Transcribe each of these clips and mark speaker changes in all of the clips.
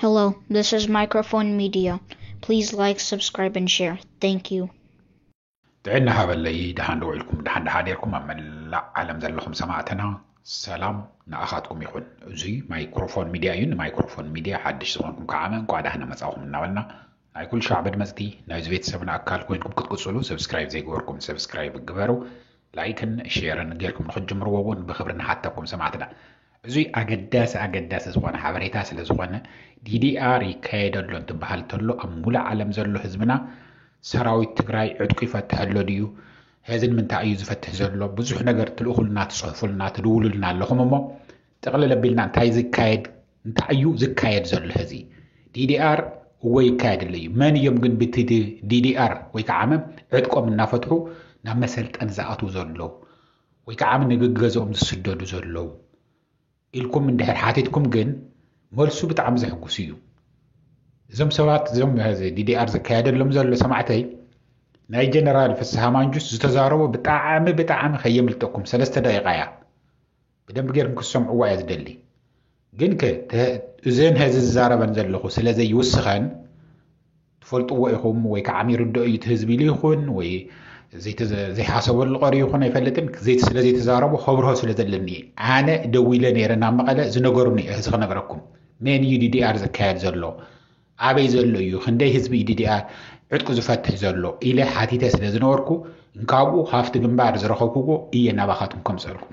Speaker 1: Hello, this is Microphone Media. Please like, subscribe, and share. Thank you. ጥዕና
Speaker 2: ሃበለይ ደሓን ዶ ውዒልኩም ደሓን ደሓ ዴርኩም ኣብ መላእ ዓለም ዘለኹም ሰማዕትና ሰላም ንኣኻትኩም ይኹን እዙይ ማይክሮፎን ሚድያ እዩ ንማይክሮፎን ሚድያ ሓድሽ ዝኾንኩም ከዓመ እንኳ ዳህና መፃኹም እናበልና ናይ ኩሉ ሻዕ መድመጽቲ ናይዚ ቤተሰብና ኣካል ኮይንኩም ክትቅጽሉ ሰብስክራይብ ዘይገበርኩም ሰብስክራይብ ግበሩ ላይክን ሼርን ጌርኩም ንክትጅምርዎ እውን ብክብሪ ንሓተኩም ሰማዕትና። እዙይ ኣገዳሲ ኣገዳሲ ዝኾነ ሓበሬታ ስለ ዝኾነ ዲዲኣር ይካየድ ኣሎ እንትበሃል ተሎ ኣብ ሙሉእ ዓለም ዘሎ ህዝብና ሰራዊት ትግራይ ዕጥቁ ይፈትሕ ኣሎ ድዩ ሄዚ ንምንታይ እዩ ዝፈትሕ ዘሎ ብዙሕ ነገር ትልእኹልና ትፅሕፉልና ትድውሉልና ኣለኹም እሞ ጠቕልል ኣቢልና እንታይ ዝካየድ እንታይ እዩ ዝካየድ ዘሎ ሕዚ? DDR እወ ይካየድ ኣሎ እዩ። መን እዮም ግን ብቲ DDR ወይ ከዓ ዕጥቆም እናፈትሑ ናብ መሰልጠን ዝኣትዉ ዘለዉ ወይ ከዓ ንገገዝኦም ዝስደዱ ዘለዉ ኢልኩም እንድሕር ሓቲትኩም ግን መልሱ ብጣዕሚ ዘሕጉስ እዩ። እዞም ሰባት እዞም ዲዲኣር ዝካየደሎም ዘሎ ሰማዕተይ ናይ ጀነራል ፍስሃ ማንጁስ ዝተዛረቦ ብጣዕሚ ብጣዕሚ ከየምልጠኩም ሰለስተ ደቂቃ እያ ብደንቢ ገርኩም ክትሰምዕዋ እየ ዝደሊ ግን ከ እዘን ሀዚ ዝዛረበን ዘለኹ ስለ ዘይውስኸን ትፈልጥዎ ኢኹም ወይ ከዓ ሚርድኦ እዩ እቲ ህዝቢ ኢሉ ይኹን ወይ ዘይሓሰበሉ ቀሪ ይኹን ኣይፈልጥን ስለ ዘይተዛረቡ ከብርሆ ስለ ዘለኒ እየ ኣነ ደዊለ ነይረ ናብ መቐለ ዝነገሩኒ እዚ ክነግረኩም ሜን እዩ ዲዲኣር ዝካየድ ዘሎ ኣበይ ዘሎ እዩ ክንደይ ህዝቢ ዲዲኣር ዕጥቁ ዝፈትሕ ዘሎ ኢለ ሓቲተ ስለ ዝነበርኩ እንካብኡ ካብቲ ግንባር ዝረኸብኩዎ እየ ናባኻትኩም ከምፀልኩ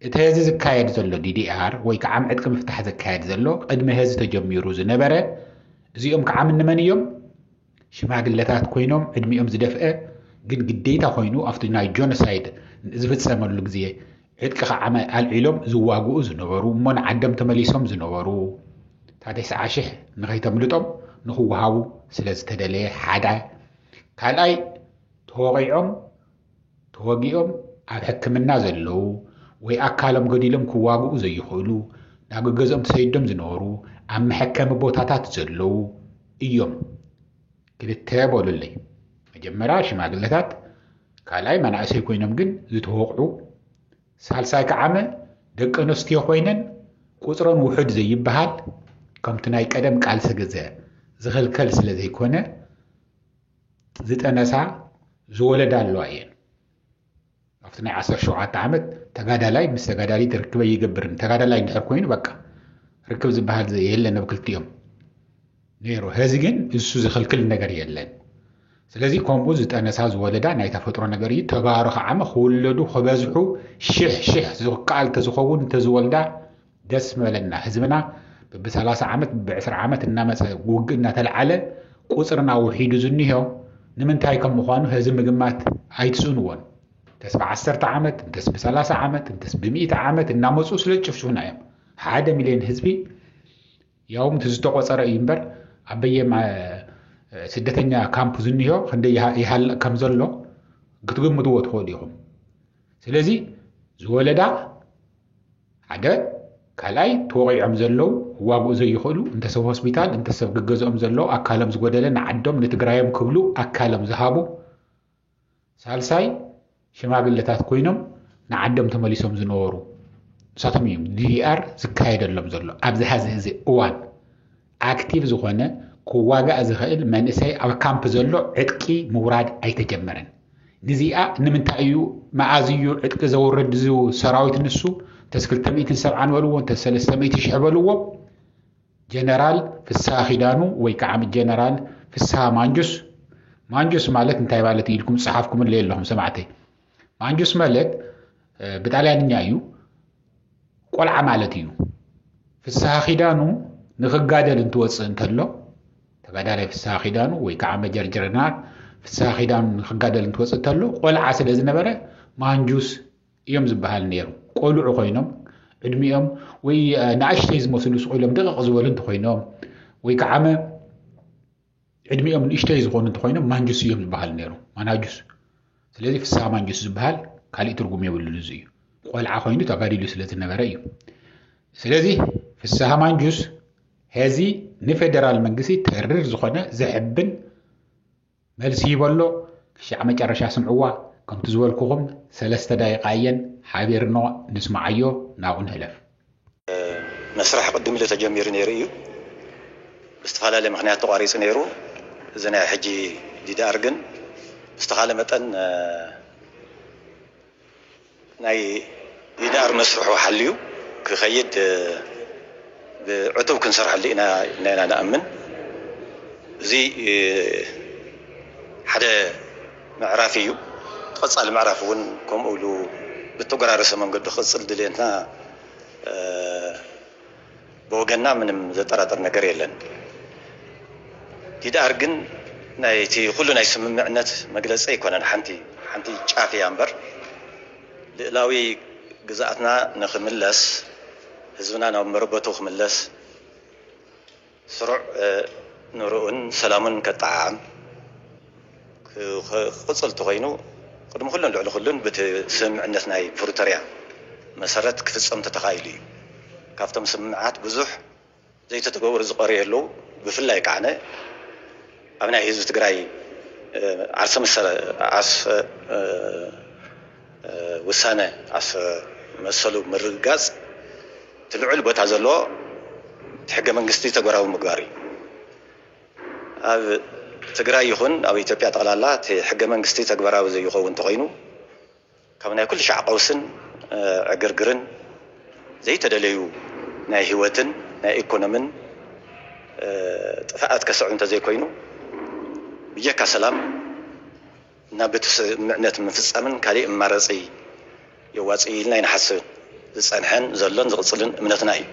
Speaker 2: እቲ ሀዚ ዝካየድ ዘሎ ዲዲኣር ወይ ከዓ ዕጥቂ ምፍታሕ ዝካየድ ዘሎ ቅድሚ ሀዚ ተጀሚሩ ዝነበረ እዚኦም ከዓ ምንመን እዮም ሽማግለታት ኮይኖም ዕድሚኦም ዝደፍአ ግን ግዴታ ኮይኑ ኣብቲ ናይ ጆኖሳይድ ዝፍፀመሉ ግዜ ዕጥቂ ከዓማይ ኣልዒሎም ዝዋግኡ ዝነበሩ እሞ ንዓዶም ተመሊሶም ዝነበሩ ታደሰዓ ሽሕ ንኸይተምልጦም ንኽወሃቡ ስለ ዝተደለየ ሓደ ካልኣይ ተወቒዖም ተወጊኦም ኣብ ሕክምና ዘለዉ ወይ ኣካሎም ገዲሎም ክዋግኡ ዘይኽእሉ ናብ ገገዝኦም ተሰይዶም ዝነበሩ ኣብ መሐከሚ ቦታታት ዘለዉ እዮም ክልተ በሉለይ መጀመርያ ሽማግለታት ካልኣይ መናእሰይ ኮይኖም ግን ዝተወቕዑ፣ ሳልሳይ ከዓመ ደቂ ኣንስትዮ ኮይነን ቁፅረን ውሑድ ዘይበሃል ከምቲ ናይ ቀደም ቃልሲ ግዘ ዝኽልከል ስለ ዘይኮነ ዝጠነሳ ዝወለዳ ኣለዋ እየን ኣብቲ ናይ ዓሰርተ ሸውዓተ ዓመት ተጋዳላይ ምስ ተጋዳሊት ርክበ ይገብርን ተጋዳላይ እንድሕር ኮይኑ በቃ ርክብ ዝበሃል የለን ኣብ ክልቲኦም ነይሩ ሀዚ ግን እሱ ዝኽልክል ነገር የለን ስለዚ ከምኡ ዝጠነሳ ዝወለዳ ናይ ተፈጥሮ ነገር እዩ ተጋሩ ከዓ ክውለዱ ክበዝሑ ሽሕ ሽሕ ዝከኣል ተዝኸውን ተዝወልዳ ደስ ምበለና ህዝብና ብሰላሳ ዓመት ብዕስራ ዓመት እናመፀ ውግእ እናተለዓለ ቁፅርና ውሒዱ ዝኒሆ ንምንታይ ከም ምዃኑ ህዚ ምግማት ኣይትስእንዎን እንተስ ብዓሰርተ ዓመት እንተስ ብሰላሳ ዓመት እንተስ ብሚእቲ ዓመት እናመፁ ስለ ዝጭፍጭፉና እዮም ሓደ ሚልዮን ህዝቢ ያውም እቲ ዝተቖፀረ እዩ እምበር ኣብ በየም ስደተኛ ካምፕ ዝኒሆ ክንደይ ይሃልቕ ከም ዘሎ ክትግምትዎ ትኽእሉ ኢኹም ስለዚ ዝወለዳ ሓደ ካልኣይ ተወቂዖም ዘለው ዋግኡ ዘይኽእሉ እንተሰብ ሆስፒታል እንተሰብ ግገዝኦም ዘለው ኣካሎም ዝጎደለ ንዓዶም ንትግራዮም ክብሉ ኣካሎም ዝሃቡ ሳልሳይ ሽማግለታት ኮይኖም ንዓዶም ተመሊሶም ዝነበሩ ንሳቶም እዮም ዲዲኣር ዝካየደሎም ዘሎ ኣብዚ ሀዚ እዚ እዋን ኣክቲቭ ዝኾነ ክዋጋእ ዝኽእል መንእሰይ ኣብ ካምፕ ዘሎ ዕጥቂ ምውራድ ኣይተጀመረን ንዚኣ ንምንታይ እዩ መኣዝ እዩ ዕጥቂ ዘውርድ ሰራዊት ንሱ ተስ ክልተ ሚእትን ሰብዓን በልዎ ተስ ሰለስተ ሚእቲ ሽሕ በልዎ ጀነራል ፍስሃ ኪዳኑ ወይ ከዓ ጀነራል ፍስሃ ማንጁስ ማንጁስ ማለት እንታይ ማለት እዩ ኢልኩም ዝፀሓፍኩምለ ኣለኹም ሰማዕተይ ማንጁስ ማለት ብጣልያንኛ እዩ ቆልዓ ማለት እዩ ፍስሃ ኪዳኑ ንክጋደል እንትወፅእ እንተሎ ተጋዳላይ ፍስሃ ኪዳኑ ወይ ከዓ መጀር ጀረናል ፍስሃ ኪዳኑ ንክጋደል እንትወፅእ እንተሎ ቆልዓ ስለ ዝነበረ ማንጁስ እዮም ዝበሃል ነይሩ። ቆልዑ ኮይኖም ዕድሚኦም ወይ ንኣሽተይ ዝመስሉ ስቑኢሎም ደቐቕ ዝበሉ እንተኮይኖም ወይ ከዓመ ዕድሚኦም ንእሽተይ ዝኾኑ እንተኮይኖም ማንጁስ እዮም ዝበሃል ነይሩ ማናጁስ። ስለዚ ፍስሃ ማንጁስ ዝበሃል ካልእ ትርጉም የብሉን እዚ እዩ። ቆልዓ ኮይኑ ተጋዲሉ ስለ ዝነበረ እዩ። ስለዚ ፍስሃ ማንጁስ ሄዚ ንፌደራል መንግስቲ ተርር ዝኾነ ዘሕብን መልሲ ይበሎ ክሻዕ መጨረሻ ስምዕዋ ከምቲ ዝበልኩኹም ሰለስተ ዳይቓ እየን ሓቢርኖ ንስማዓዮ ናብኡ
Speaker 3: ንሕለፍ።
Speaker 2: መስርሕ
Speaker 3: ቅድም ኢሉ ተጀሚሩ ነይሩ ኢዩ። ብዝተፈላለየ ምኽንያት ተቋሪጹ ነይሩ። እዚ ናይ ሕጂ ዲዲኣር ግን ብዝተኻለ መጠን ናይ ዲዲኣር መስርሑ ሓልዩ ክኸይድ ብዕቱብ ክንሰርሐሉ ኢና ኢልና ኢና ንኣምን። እዚ ሓደ ምዕራፍ ኢዩ። እቲ ቀጻሊ ምዕራፍ እውን ከምኡ ኢሉ ብተጎራረሰ መንገዱ ክቕጽል ድሌትና ብወገንና ምንም ዘጠራጥር ነገር የለን ዲድኣር ግን ናይ እቲ ኩሉ ናይ ስምምዕነት መግለጺ ኣይኮነን ሓንቲ ሓንቲ ጫፍ እያ እምበር ልእላዊ ግዝኣትና ንክምለስ ህዝብና ናብ መረበቱ ክምለስ ስሩዕ ንርኡን ሰላሙን ከጠዓዕም ክቕጽል እንተኾይኑ ቅድሚ ኩሉን ልዕሊ ኩሉን ብቲ ስምምዕነት ናይ ፕሩተርያ መሰረት ክፍጸም እንተተኻኢሉ እዩ። ካብቶም ስምምዓት ብዙሕ ዘይተተገበሩ ዝቐርዩ ኣለዉ። ብፍላይ ከዓነ ኣብ ናይ ህዝቢ ትግራይ ዓርሰ ዓርሰ ውሳነ ዓርሰ መሰሉ ምርግጋጽ እቲ ልዑል ቦታ ዘለዎ እቲ ሕገ መንግስቲ ተግባራዊ ምግባር እዩ። ኣብ ትግራይ ይኹን ኣብ ኢትዮጵያ ጠቕላላ እቲ ሕገ መንግስቲ ተግባራዊ ዘይኾውን እንተኾይኑ ካብ ናይ ኩሉ ሻዕ ቐውስን ዕግርግርን ዘይተደለዩ ናይ ህይወትን ናይ ኢኮኖምን ጥፍኣት ከስዕብ እንተዘይኮይኑ ብጀካ ሰላም ናብ እቲ ስምምዕነት ምፍፃምን ካሊእ ኣማረፂ የዋፅእ ኢልና ኣይንሓስብን። ዝፀንሐን ዘሎን ዝቕፅልን እምነትና እዩ።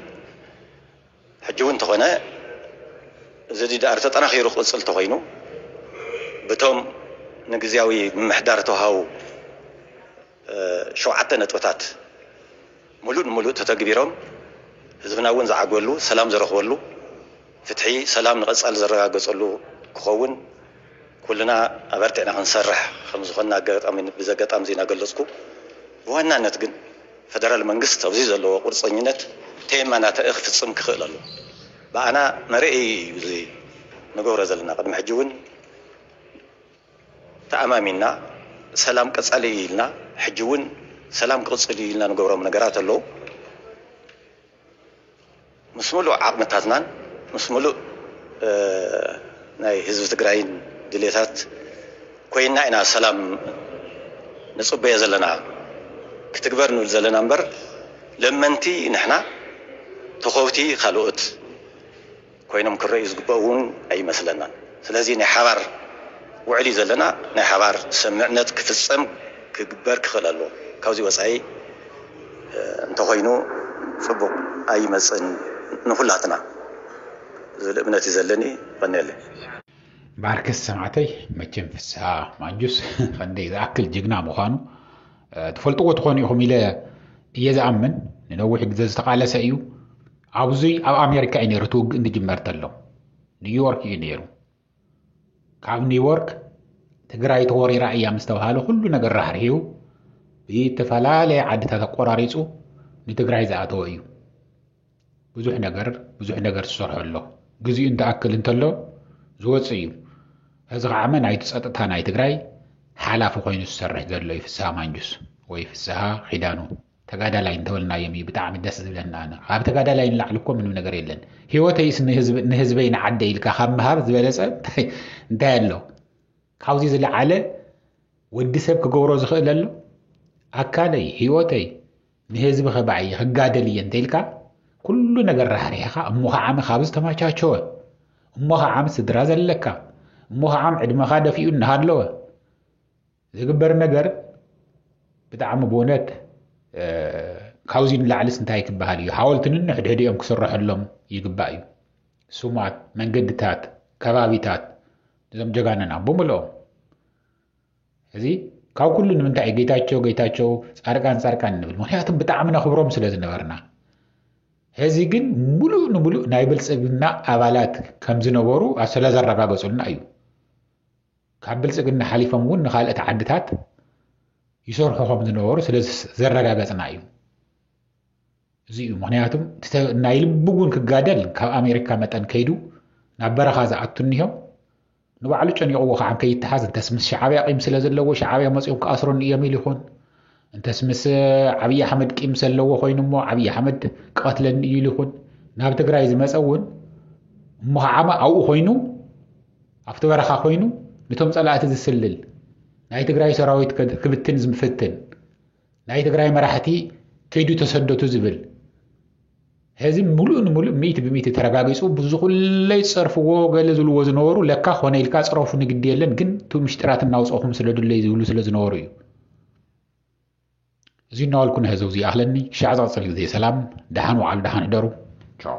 Speaker 3: ሕጂ እውን እንተኾነ እዚ ዲዲኣር ተጠናኺሩ ክቕፅል እንተኾይኑ ብቶም ንግዝያዊ ምምሕዳር ዝተውሃቡ ሸውዓተ ነጥብታት ሙሉእ ንሙሉእ ተተግቢሮም ህዝብና እውን ዝዓግበሉ፣ ሰላም ዝረኽበሉ፣ ፍትሒ፣ ሰላም ንቐፃሊ ዝረጋገፀሉ ክኸውን ኩልና ኣበርቲዕና ክንሰርሕ ከምዝኾንና ኣጋጣሚ ብዘጋጣሚ እዚ እናገለፅኩ ብዋናነት ግን ፈደራል መንግስት ኣብዚ ዘለዎ ቁርፀኝነት ተየማናታኢ ክፍፅም ክኽእል ኣለዎ። ብኣና መርኣዪ እዩ እዚ ንገብሮ ዘለና ቅድሚ ሕጂ እውን ተኣማሚንና ሰላም ቀፃሊ እዩ ኢልና ሕጂ እውን ሰላም ክቕፅል እዩ ኢልና ንገብሮም ነገራት ኣለዉ። ምስ ሙሉእ ዓቕምታትናን ምስ ሙሉእ ናይ ህዝቢ ትግራይን ድልየታት ኮይንና ኢና ሰላም ንፅበዮ ዘለና ክትግበር ንብል ዘለና እምበር ለመንቲ ንሕና ተኾብቲ ካልኦት ኮይኖም ክረእዩ ዝግበኡ እውን ኣይመስለናን። ስለዚ ናይ ሓባር ውዕል እዩ ዘለና። ናይ ሓባር ሰምምዕነት ክፍፀም ክግበር ክኽእል ኣለዎ። ካብዚ ወፃኢ እንተኾይኑ ፅቡቕ ኣይመፅእን ንኹላትና ዝብል እምነት እዩ ዘለኒ። የቐንየለይ።
Speaker 2: ባርከስ ሰማዕተይ መቸም ፍስሃ ማንጁስ ከንደይ ዝኣክል ጅግና ምዃኑ ትፈልጥዎ ትኾኑ ኢኹም ኢለ እየ ዝኣምን። ንነዊሕ ግዘ ዝተቓለሰ እዩ። ኣብዚ ኣብ ኣሜሪካ እዩ ነይሩ እቲ ውግእ ክጅመር ተሎ ኒውዮርክ እዩ ነይሩ ካብ ኒውዮርክ ትግራይ ተወሪራ እያ ምስ ተባሃለ ኩሉ ነገር ራሕሪሑ ብዝተፈላለየ ዓድታት ኣቆራሪፁ ንትግራይ ዝኣተወ እዩ ብዙሕ ነገር ብዙሕ ነገር ዝሰርሖ ኣሎ ግዚኡ እንትኣክል እንተሎ ዝወፅእ እዩ እዚ ከዓ ናይቲ ፀጥታ ናይ ትግራይ ሓላፊ ኮይኑ ዝሰርሕ ዘሎ እዩ ፍስሃ ማንጁስ ወይ ፍስሃ ኪዳኑ ተጋዳላይ እንተበልናዮም እዩ ብጣዕሚ ደስ ዝብለና ኣነ ካብ ተጋዳላይ ንላዕሊ እኮ ምንም ነገር የለን ህይወተይስ ንህዝበይ ንዓደ ኢልካ ካብ ምሃብ ዝበለፀ እንታይ ኣሎ ካብዚ ዝለዓለ ወዲ ሰብ ክገብሮ ዝኽእል ኣሎ ኣካለይ ህይወተይ ንህዝቢ ከባዕ እየ ክጋደል እየ እንተኢልካ ኩሉ ነገር ራሕሪሕኻ እሞ ከዓሚ ካብ ዝተመቻቸወ እሞ ከዓሚ ስድራ ዘለካ እሞ ከዓም ዕድመኻ ደፊኡ እናሃለወ ዝግበር ነገር ብጣዕሚ ብእውነት ካብዚ ንላዕልስ እንታይ ክበሃል እዩ ሓወልቲ ንንሕድሕዲኦም ክስረሐሎም ይግባእ እዩ ስማት መንገድታት ከባቢታት እዞም ጀጋነና ብምልኦም እዚ ካብ ኩሉ ንምንታይ እዩ ጌታቸው ጌታቸው ፃርቃን ፃርቃን ንብል ምክንያቱ ብጣዕሚ ነኽብሮም ስለ ዝነበርና ሕዚ ግን ሙሉእ ንሙሉእ ናይ ብልፅግና ኣባላት ከም ዝነበሩ ስለዘረጋገፁልና እዩ ካብ ብልፅግና ሓሊፎም እውን ንካልኦት ዓድታት ይሰርሑ ከም ዝነበሩ ስለ ዘረጋገፅና እዩ እዚ እዩ ምክንያቱም ናይ ልቢ እውን ክጋደል ካብ ኣሜሪካ መጠን ከይዱ ናብ በረኻ ዝኣቱ እኒሆ ንባዕሉ ጨኒቕዎ ከዓ ከይተሓዝ እንተስ ምስ ሸዓብያ ቂም ስለ ዘለዎ ሸዓብያ መፂኦም ክኣስረኒ እዮም ኢሉ ይኹን እንተስ ምስ ዓብዪ ኣሕመድ ቂም ዘለዎ ኮይኑ እሞ ዓብዪ ኣሕመድ ክቐትለኒ እዩ ኢሉ ይኹን ናብ ትግራይ ዝመፀ እውን እሞ ከዓማ ኣብኡ ኮይኑ ኣብቲ በረኻ ኮይኑ ነቶም ፀላእቲ ዝስልል ናይ ትግራይ ሰራዊት ክብትን ዝምፍትን ናይ ትግራይ መራሕቲ ከይዱ ተሰደቱ ዝብል ሕዚ ምሉእ ንምሉእ ሚእቲ ብሚእቲ ተረጋጊጹ ብዙኹለይ ጸርፍዎ ገለ ዝብልዎ ዝነበሩ ለካ ኮነ ኢልካ ጽረፉ ንግዲ የለን ግን እቲ ምሽጢራት እናውጽኹም ስለዱለይ ዝብሉ ስለ ዝነበሩ እዩ እዚ እናዋልኩ ንህዘው ዝይኣኽለኒ ሻዕ ዝቕጽል ግዜ ሰላም ደሓን ውዓሉ ደሓን እደሩ ቻው